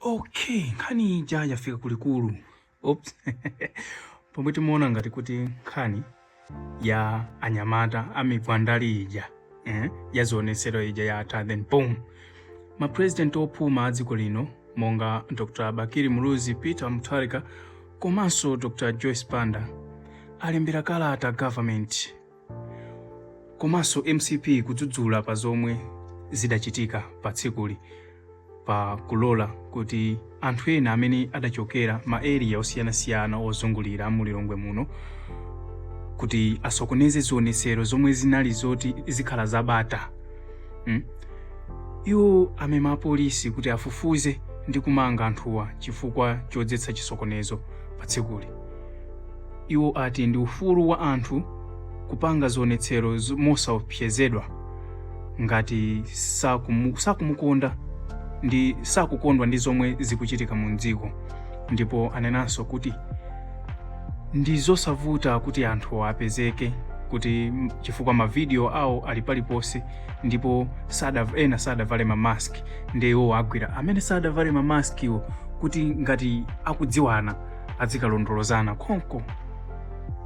Okay, nkhani ija yafika kulikulu. Oops. Pomwe timaona ngati kuti nkhani ya anyamata amigwandali ija eh, ya zionetsero ija yatha then boom mapresident opuma a dziko lino monga dr bakiri muluzi peter mutharika komanso dr joyce banda alembera kalata government komanso mcp kudzudzula pa zomwe zidachitika pa tsikuli pa kulola kuti anthu ena amene adachokera ma area osiyanasiyana ozungulira mu lilongwe muno kuti asokoneze zionetsero zomwe zinali zoti zikhala zabata mm? iwo amema apolisi kuti afufuze ndi kumanga anthuwa chifukwa chodzetsa chisokonezo pa tsikuli Iwo ati ndi ufulu wa anthu kupanga zionetsero mosaopsezedwa ngati sakumu, sakumukonda ndi sakukondwa ndi zomwe zikuchitika mu dziko ndipo anenanso kuti ndi zosavuta kuti anthu apezeke kuti chifukwa mavidiyo awo ali paliponse ndipo sada, ena sadavale ma mask ndiye iwo agwira amene sadavale ma maskwo kuti ngati akudziwana azikalondolozana konko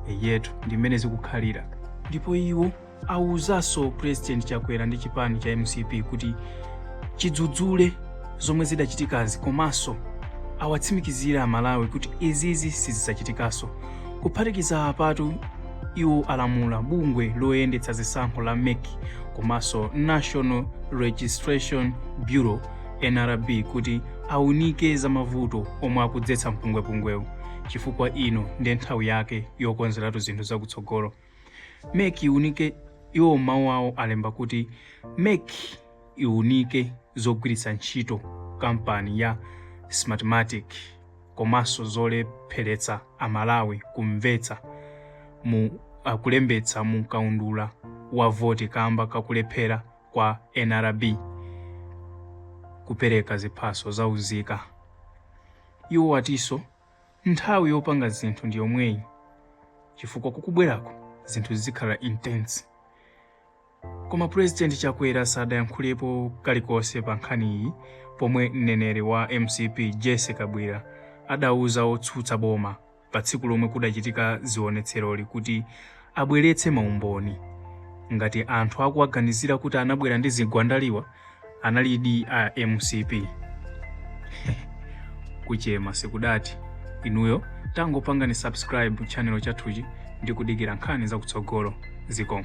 eyetu ndi mmene zikukhalira ndipo iwo awuzanso president chakwera ndi chipani cha mcp kuti chidzudzule zomwe zidachitikazi komanso awatsimikizire amalawi kuti izizi sizidzachitikanso kuphatikiza apatu iwo alamula bungwe loyendetsa zisankho la mec komanso national registration bureau nrb kuti aunike za mavuto omwe akudzetsa mpungwepungwewu chifukwa ino ndi nthawi yake yokonzeratu zinthu zakutsogolo mec iunike iwo mawu awo alemba kuti mec iunike zogwiritsa ntchito kampani ya smartmatic komanso zolepheretsa amalawi kumvetsa mu akulembetsa mu kaundula wa voti kamba kakulephera kwa nrb kupereka ziphaso za unzika. Iwo atinso nthawi yopanga zinthu ndi yomweyi chifukwa kukubwerako zinthu zikhala intense. Koma President Chakwera sadayankhulepo kalikonse pa nkhaniyi pomwe mneneri wa mcp Jessie Kabwila adauza otsutsa boma pa tsiku lomwe kudachitika zionetseroli kuti abweretse maumboni ngati anthu akuwaganizira kuti anabwera ndi zikwanjewa analidi a mcp kuchema sikudati inuyo tangopangani subscribe channel chathuchi ndi kudikira nkhani zakutsogolo zikomo